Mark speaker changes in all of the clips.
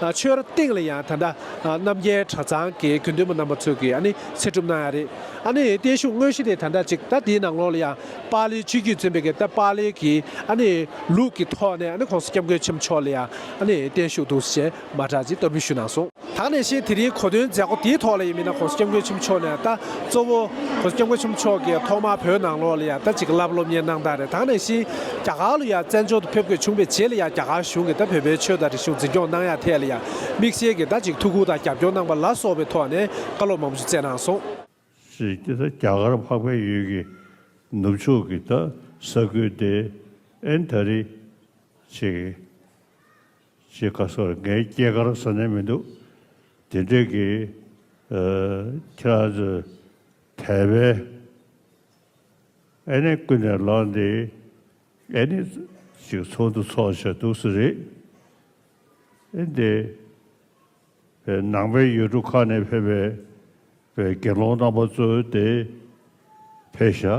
Speaker 1: ཆོས་སྟེང་ལ་ཡང་ད་ལྟ་རྣམ་རྒྱལ་གྲྭ་ཚང་གི་དགེ་འདུན་པ་རྣམ་པ་ཚོས་ཀྱིས་ཨ་ནི་ཚེ་སྒྲུབ་གནང་ཡ་རེད། ཨ་ནི་བརྟན་བཞུགས་དངོས་གཞི་དེ་ད་ལྟ་ཅིག་ད་དེའི་ནང་ལོགས་ལ་ཡང་པཱ་ལིའི་སྤྱི་རྒྱུད་བཙོན་པའི་གེ་སྟ་པཱ་ལིའི་གི་ཨ་ནི་ལུགས་ཀྱི་ཐོག་ནས་ཨ་ནི་ཁོང་སྐྱབས་མགོན་ཆེན་པོ་མཆོག་ལ་ཡང་ཨ་ནི་བརྟན་བཞུགས་འདུག་ཟེར་ཞེས་མ་གྲགས་ཅིག་གཏོར་འབུལ་ཞུས་གནང་སོང། ད་ནས་བཤད་དེ་རིང་གོ་དོན་མཛད་སྒོ་དེའི་ཐོག་ལ་ཡིན་མིན་ན་ཁོང་སྐྱབས་མགོན་ཆེན་པོ་མཆོག་ནས་ད། གཙོ་བོ། སྐྱབས་མགོན་ཆེན་པོ་མཆོག་གིས་
Speaker 2: ཐོག་མར་བོད་ནང་ལོགས་ལ་ཡང་ལྟ་ཅིག་ལབ་སློབ་གཉེར་གནང་སྟངས་རེད་དང་ནས་བཞིན་རྒྱ་གར་ལ་ཡང་བཙན་བྱོལ་དུ་ཕེབས་དགོས་བྱུང་བའི་རྗེས་ལ་ཡང་རྒྱ་གར་གཞུང་གིས་ད་བོད་པའི་ཆོས་དང་རིག་གཞུང་འཛིན་སྐྱོང་གནང་ཡག་ཐད་ལ་ཡང་མིག་ཤེལ་གྱིས་ལྟ་ཅིག་ཐུགས་ཁུར་དང་རྒྱབ་སྐྱོར་གནང་པ་ལ་སོགས་པའི་ཐོག་ནས་བཀའ་སློབ་མང་པོ་ཞིག་སྩལ་གནང་སོང། རྒྱ་གར་འཕགས་པའི་ཡུལ་གྱི་ནུབ་ཕྱོགས་ཀྱི་ད་ས་ཁུལ་དེ་ཨན་དྷ་རི་ཅེས། ཅེས་བཀའ་སྩལ་བར་ངའི་སྐྱེས་སྐར་བཟོ་ནས་མི་འདུག་དེ་འབྲེལ་གྱི་ཁྱེད་རང་ཚོས་དད་པའི་ཨེ་ནས་ཀུན་ནས་ལངས་ཏེ་ཨེ་ནས་ཅིག་ཚོགས་འདུ་འཚོགས་བྱས་འདུག་སུ་རེད་ཨེ་འདི་བའི་ནང་པའི་ཡུལ་གྲུ་ཁག་ནས་ཕེབས་པའི་བའི་དགེ་སློང་རྣམ་པ་ཚོ་དེ་ཕེབས་ཤག།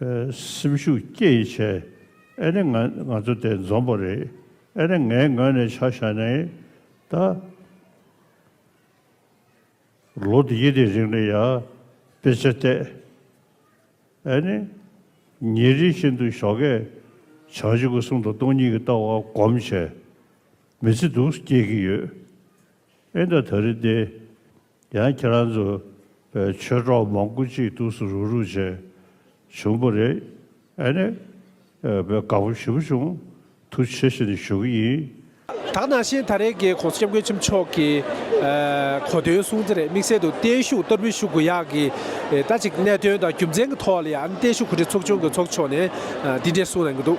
Speaker 2: སེམས་ཤུགས་བསྐྱེད་ཡི་ཆེ། ཨེ་རེད་ང་ང་ཚོ་དེ་འཛོམས་པོ་རེད། ཨེ་རེད་ངའི་ངོས་ནས་ཆ་བཞག་ནས་ད། ལོ་དེ་ཡི་དེ་རིང་ནས་ཡར་དཔེ་ཆ་བལྟས། ཨེ་ནི། ཉིན་རེ་བཞིན་དུ་ཞོགས་ཀས་བྱང་ཆུ་ཁུ་སུམ་དང་སྟོང་གཉིས་ཀྱི་ལྟ་བ་སྒོམ་བྱས། མི་ཚེ་སྡུག་སྐྱེལ་གྱི་ཡོད། ཨེ་འདྲ་ད་རེས་ཏེ། ཡང་ཁྱེད་རང་ཚོ་བོད་ཆོས་གྲོགས་མང་པོ་གཅིག་ཏུ་སུ་རུག་རུག་བྱས་བྱུང་པོ་རེད་ཨེ་ནས་བོད་དགའ་པོ་ཞུ་བྱུང་ཐུགས་ཆེ་ཞེ་ནས་ཞུ་གི་ཡིན། དག་ནང་བཞིན་
Speaker 1: ད་རེས་ཀྱི ྋགོང་ས ྋསྐྱབས་མགོན་ཆེན་པོ་མཆོག་གི་གོ་དོན་གསུང་ཚེ་རེད་དམིགས་བསལ་དུ་བརྟན་བཞུགས་གཏོར་འབུལ་ཞུ་དགོས་ཡག་གི་རེད་ད་ཅིག་གནད་དོན་དང་རྒྱུ་མཚན་གྱི་ཐོག་ལ་ཡང་བརྟན་བཞུགས་གོ་སྒྲིག་ཚོགས་ཆུང་གི་ཚོགས་མཆོག་ནས་འདི་འདྲའི་གསུང་གནང་གི་འདུག།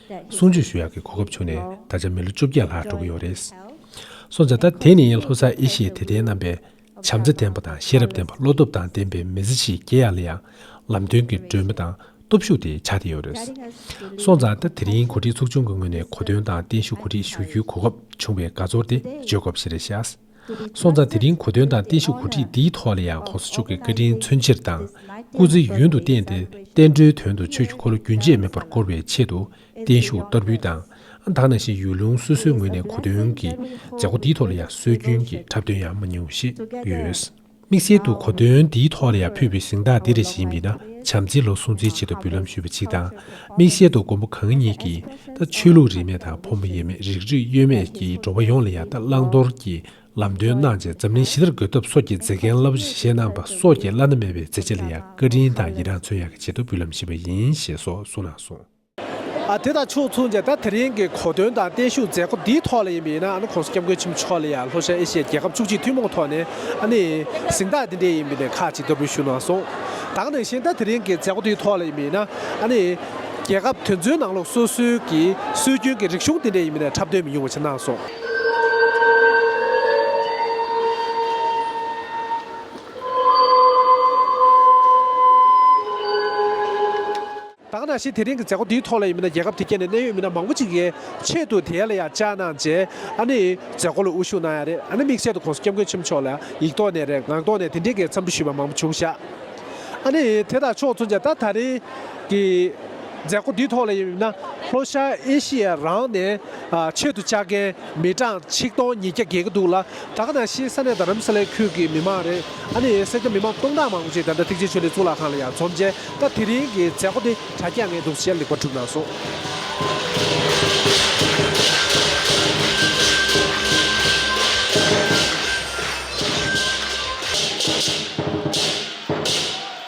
Speaker 1: གསུང་ཆོས་ཞུ་ཡག་གི་གོ་སྐབས་བྱུང་ནས་ད་ཆ་མི་ལོ་བཅོ་བརྒྱད་ལྷག་འགྲོ་གི་ཡོད་རེད། སོང་ཙང་ད་དེ་ནི་ལྷོ་སར་ཨེ་ཤེ་དད་ལྡན་རྣམ་པས་བྱམས་བརྩེ་ལྡན་པ་དང་ཤེས་རབ་ལྡན་པ་བློ་སྟོབས་དང་ལྡན་པའི་མི་ཚེ་ཞིག་སྐྱེལ་ཡག་ལ་ཡང་ལམ་སྟོན་གྱི་སྒྲོན་མེ་དང་སྟོབས་ཤུགས་དེ་ཆགས་བསྡད་ཡོད་རེད། སོང་ཙང་ད་དེ་རིང་གོ་སྒྲིག་ཚོགས་ཆུང་གི་ངོས་ནས་གོ་སྟོན་དང་བརྟན་བཞུགས་གོ་སྒྲིག་ཞུ་རྒྱུའི་གོ་སྐབས་བྱུང་བའི་དགའ་ཚོར་དེ་བརྗོད་དགོས་པ་ཞིག་རེད་ཤག། སོང་ཙང་དེ་རིང་གོ་དོན་དང་བསྟན་བཤིག་གོ་སྒྲིག་འདིའི་ཐོག་ལ་ཡང་གོང་ས་མཆོག་གི་བཀའ་དྲིན་མཚོན་ཕྱིར་དང། སྐུ་ཚེ་ཡུན་དུ་བརྟན་ཏེ་བསྟན་འགྲོའི་དོན་དུ་ཆོས་ཀྱི་འཁོར་ལོ་རྒྱུན་ཆད་མེད་པར་བསྐོར་བའི་ཆེད་དུ་བརྟན་བཞུགས་བསྟར་འབུལ་དང་སྡང་ན་ཞིང་ཡུལ་ལུང་སོ་སོའི་ངོས་ནས་གོ་དོན་གྱི་མཛད་སྒོ་འདིའི་ཐོག་ལ་ཡང་སྲོལ་རྒྱུན་གྱི་འཁྲབ་སྟོན་ཡང་མ་ཉུང་བ་ཞིག་ཡོད། དམིགས་བསལ་དུ་གོ་དོན་འདིའི་ཐོག་ལ་ཡང་ཕུད་པའི་གཟེངས་རྟགས་འདི་རེ་ཞིག་ཡིན་པས་ན་བྱམས་བརྩེའི་ལོ་སྲུང་རྩེའི་ཆེད་དུ་འབུལ་ལམ་ཞུས་པ་གཅིག་དང། དམིགས་བསལ་དུ་མགོན་པོ་གང་ཉིད་ཀྱིས་ད་ཆོས་ལུགས་རིས་མེད་དང་ཕོ་མོ་དབྱེ་མེད་རིགས་རུས་གཡོ་མེད་ཀྱི་འགྲོ་བ་ཡོངས་ལ་ཡང་དག་བླང་དོར་གྱི་ལམ་སྟོན་གནང་རྗེས་འཛམ་གླིང་ཞི་བདེར་འགོད་ཐབས་སོགས་ཀྱི་མཛེས་རྒྱན་རླབས་པོ་ཆེ་བཞེས་གནང་པ་སོགས་ཀྱི་བླ་ན་མེད་པའི་མཛད་རྗེས་ལ་ཡང་བཀའ་དྲིན་དང་ཡི་རངས་མཚོན་ཡང་གྱི་ཆེད་དུ་འབུལ་ལམ་ཞུས་པ་ཡིན་ཞེས་སོགས་གསུངས་གནང་སོང། དེ་དང་ཕྱོགས་མཚུངས་ཀྱིས་ད་དེ་རིང་གི་གོ་སྟོན་དང་བརྟན་བཞུགས་མཛད་སྒོ་འདིའི་ཐོག་ལ་ཡིན་པའི་ཡིན་ན་ཨ་ནི་ཁོང་སི་སྐྱབས་མགོན་ཆེན་པོ་མཆོག་ལ་ཡང་ལྷོ་ཤར་ཨེ་ཤི་ཡའི་རྒྱལ་ཁབ་བཅུ་གཅིག་ཐུན་མོང་ཐོག་ནས་ཨ་ནི་གཟེངས་རྟགས་འདི་འདྲའི་ཡིན་པའི་ནས་ཁག་ཅིག་བསྟར་འབུལ་ཞུས་གནང་སོང། དང་དེ་བཞིན་ད་དེ་རིང་གི་མཛད་སྒོ་འདིའི་ཐོག་ལ་ཡིན་པའི་ཡིན་ན་ཨ་ནི་རྒྱལ་ཁབ་དེ་ཚོའི་ནང་ལོགས་སོ་སོའི་གི་སྲོལ་རྒྱུན་གི་རིག་གཞུང་འདི་འདྲའི་ཡིན་པའི་ནས་འཁྲབ་སྟོན་མི་ཉུང་བ་བྱས་གནང་སོང། དག་ན་ཞེས་དེ་རིང་གི་མཛད་སྒོ་འདིའི་ཐོག་ལ་ཡིན་མིན་ན་རྒྱལ་ཁབ་དེ་གའི་ནས་གནད་ཡོད་མི་སྣ་མང་པོ་ཅིག་ཡའི་ཆེད་དུ་དེ་ལ་ཡང་བཅར་གནང་རྗེས་ཨ་ནི་མཛད་སྒོ་ལ་དབུ་བཞུགས་གནང་ཡ་རེད་ཨ་ནི་དམིགས་བསལ་དུ་ཁོང་སྐྱབས་མགོན་ཆེན་པོ་མཆོག་ལ་ཡིག་ཐོག་ནས་རེད་ངག་ཐོག་ནས་དེ་འདི་གའི་འཚམས་འདྲི་ཞུས་པ་མང་པོ་བྱུང་ཤག་ཨ་ནི་དེ་དང་ཕྱོགས་མཚུངས་ཀྱང་ད་ད་རིང་གི་མཛད་སྒོ་འདིའི་ཐོག་ལ་ཡིན་མིན་ན་ལྷོ་ཤར་ཨེ་ཤི་ཡའི་རང་ནས་ཆེད་དུ་བཅར་མཁན། མི་གྲངས་ཆིག་སྟོང་ཉིས་བརྒྱ་བརྒལ་གྱི་འདུག་ལ་བྲག་ནང་ཤེས་ས་ནས་རྡ་རམ་ས་ལའི་ཁུལ་གྱི་མི་མང་རེད་ཨ་ནི་སེར་སྐྱ་མི་མང་སྟོང་ཕྲག་མང་པོ་ཞིག་ད་ལྟ་ཐེག་ཆེན་ཆོས་ལེགས་གཙུག་ལག་ཁང་ལ་ཡར་འཛོམས་རྗེས་སྐབས་དེ་རིང་གི་མཛད་སྒོ་དེ་དྲ་རྒྱ་ངས་དུག་ཤལ་ལེགས་པར་གྲུབ་གནང་སོང།